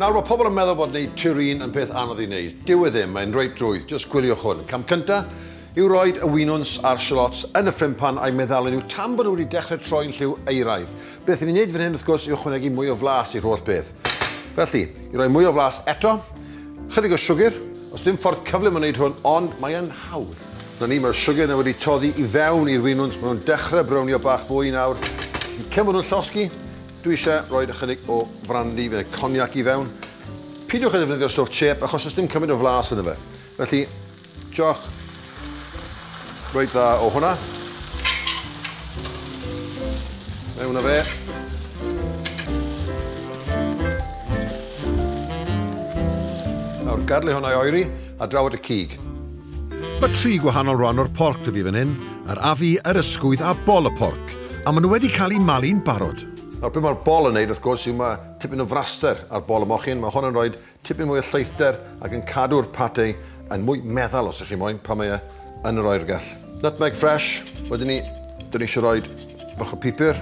Nawr, mae pobl yn meddwl bod wneud turin yn peth anodd i wneud. Dyw e ddim, mae'n reit drwydd, jyst gwyliwch hwn. Cam cynta yw roed y winwns a'r shallots yn y ffrimpan a'i meddalu nhw tan bod nhw wedi dechrau troi'n lliw euraidd. Beth ni'n wneud fan hyn, wrth gwrs, yw ychwanegu mwy o flas i'r holl beth. Felly, i roi mwy o flas eto, chydig o siwgr. Os dim ffordd cyflym o wneud hwn, ond mae yn hawdd. Na ni, mae'r siwgr na wedi toddi i fewn i'r winwns, maen nhw'n dechrau brownio bach fwy nawr. Yn cyn bod nhw'n llosgi, dwi eisiau rhoi ychydig o frandi neu coniac i fewn. Pidiwch â defnyddio stwff chip achos does dim cymaint o flas ynddo fe. Felly, joch reit dda o hwnna. Mewn o fe. Nawr, gadlu hwnna i oeri a draw at y cig. Mae tri gwahanol rhan o'r porc da fi fan hyn, yr afu, yr ysgwydd a bol y porc, a maen nhw wedi cael eu malu'n barod. Nawr, beth mae'r bol yn neud, wrth gwrs, yw mae tipyn o fraster ar bol y mochyn. Mae hwn yn rhoi Tipyn mwy o lleithder ac yn cadw'r pate yn mwy meddal os ych chi moyn pan mae e yn yr oergell. Nutmeg fresh, wedyn ni, dyn ni eisiau rhoi bach o pupur.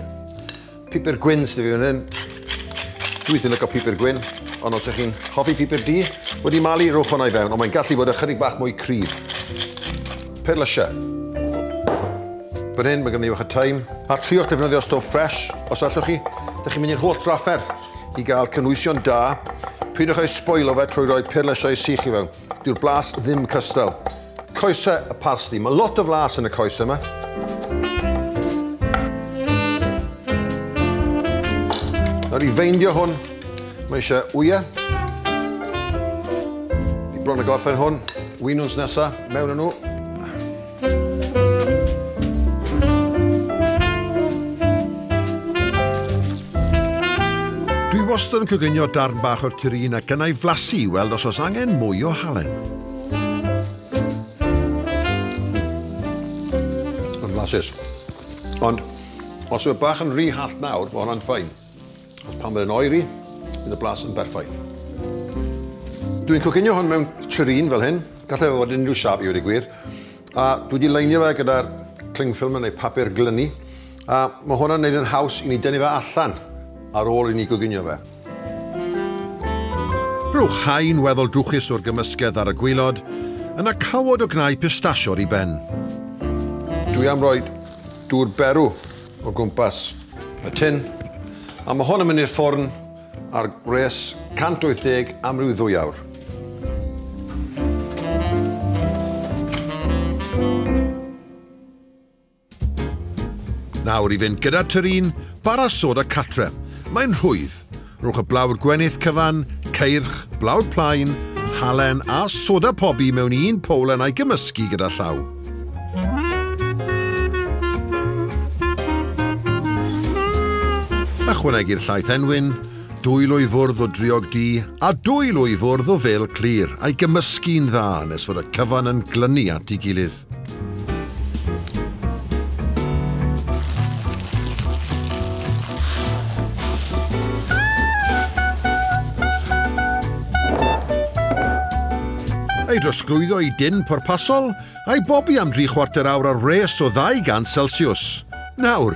Pupur gwyn sydd fi fan hyn. Dwi wrthi'n lyco pupur gwyn, ond os ych chi'n hoffi pupur du, wedi malu, rhowch hwnna i fewn, ond mae'n gallu bod ychydig bach mwy cryf. Perlysia. Fan hyn, mae gen i fach o thyme. A triwch defnyddio stof fresh, os allwch chi. Dych chi'n mynd i'r holl drafferth. i gael cynhwysion da. Peidiwch â'i sboilo fe trwy roi perlysiau sych i fewn. Dyw'r blas ddim cystal. Coesau y parsli. Mae lot o flas yn y coesau yma. Nawr i feindio hwn, mae eisiau wyau. I bron y gorffen hwn, wynwns nesa, mewn yn nhw. Dwi wastad yn coginio darn bach o'r turin ac yna'i flasu i weld os oes angen mwy o halen. flasus. Ond os yw bach yn rhy hallt nawr, mae hwnna'n ffain. Ond pan mae'n oeri, bydd y blas yn berffaith. Dwi'n coginio hwn mewn tureen fel hyn, gallai fod yn unrhyw siap i wedi gwir, a dwi wedi leinio fe gyda'r cling film neu papur glynu, a mae hwnna'n gwneud yn haws i ni dynnu fe allan ar ôl i ni goginio fe. Rhowch haen weddol drwchus o'r gymysgedd ar y gwaelod, yna cawod o gnau pistachio ar ei ben. Dwi am roi dŵr berw o gwmpas y tin, a mae hwn yn mynd i'r ffwrn ar gwres 180 am ryw ddwy awr. Nawr i fynd gyda turin, bara soda catre. Mae'n rhwydd, Rhowch y blawd gwenith cyfan, ceirch, blawd plaen, halen a soda pobi mewn un powlen a'i gymysgu gyda llaw. Ychwanegu'r llaeth enwyn, dwy lwy fwrdd o driog du a dwy lwy fwrdd o fel clir a'i gymysgu'n dda nes fod y cyfan yn glynu at ei gilydd. ei drosglwyddo i dyn pwrpasol, a'i bobi am dri chwarter awr ar wres o 200 Celsius. Nawr,